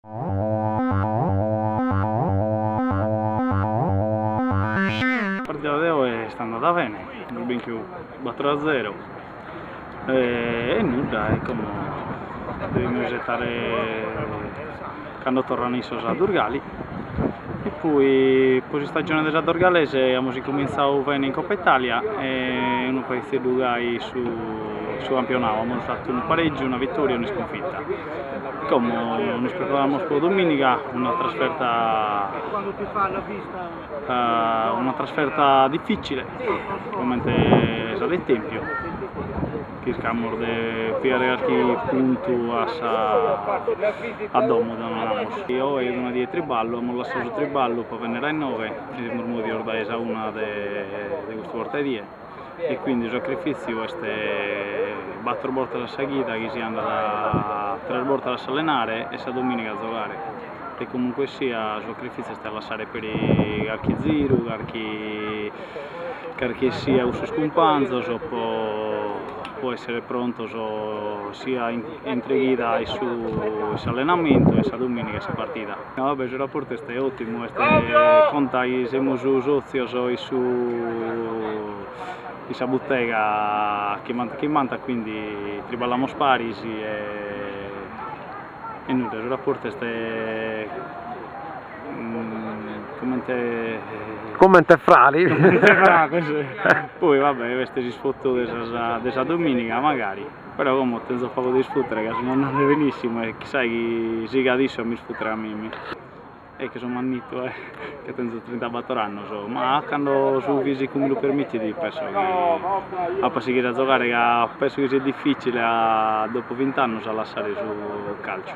Sa partida de oi est andada bene, amus binchiu bator a zero, E nudda, e como devimus isetare cando torrant issos a Durgali, e poi po s'istagione de sa Dorgalese amus incomintzadu bene in Coppa Italia e unu paghizeddu gai su campionau, amus fatu unu pareggiu, una vittoria e un'iscunfitta, como nos preparamus po domìniga, una trasferta Una trasferta dificile, comente sa de tempio, chircamus de pigare calchi puntu a sa a domo deu naramus, oi est una die 'e triballu, amus lassau su triballu po bennere a innoghe e semus movios dae sa una de custu borta 'e die. e quindi su sacrifiziu est battor bortas a sa chida chi si andat tres bortas a s'allenare e sa dominiga a zogare e comunque sia su sacrifiziu est a lassare peri carchi ziru carchi carchi e sia cun sos cumpanzos po po essere prontos sia intre chida e su e s'allenamentu e sa dominiga e sa partida No, vabbè, su rapportu est ottimu, e conta chi semus sotzios in su in sa buttega chi m'ant chi m'ant quindi triballamus paris e nudda, su rapportu est comente comente frades, poi vabbè est s'isfottu de sa dominiga magari Però como tenzo pagu de isfùtere ca sunt andande benissimu e chissai chi sigat issu a mi isfùtere a mimi e che so mannittu ca tenzo trintabator annus ma cando su fisicu mi lu permitit penso chi app'a sighire a zogare ca penso chi siat difficile a dopu vint'annus a lassare su calciu.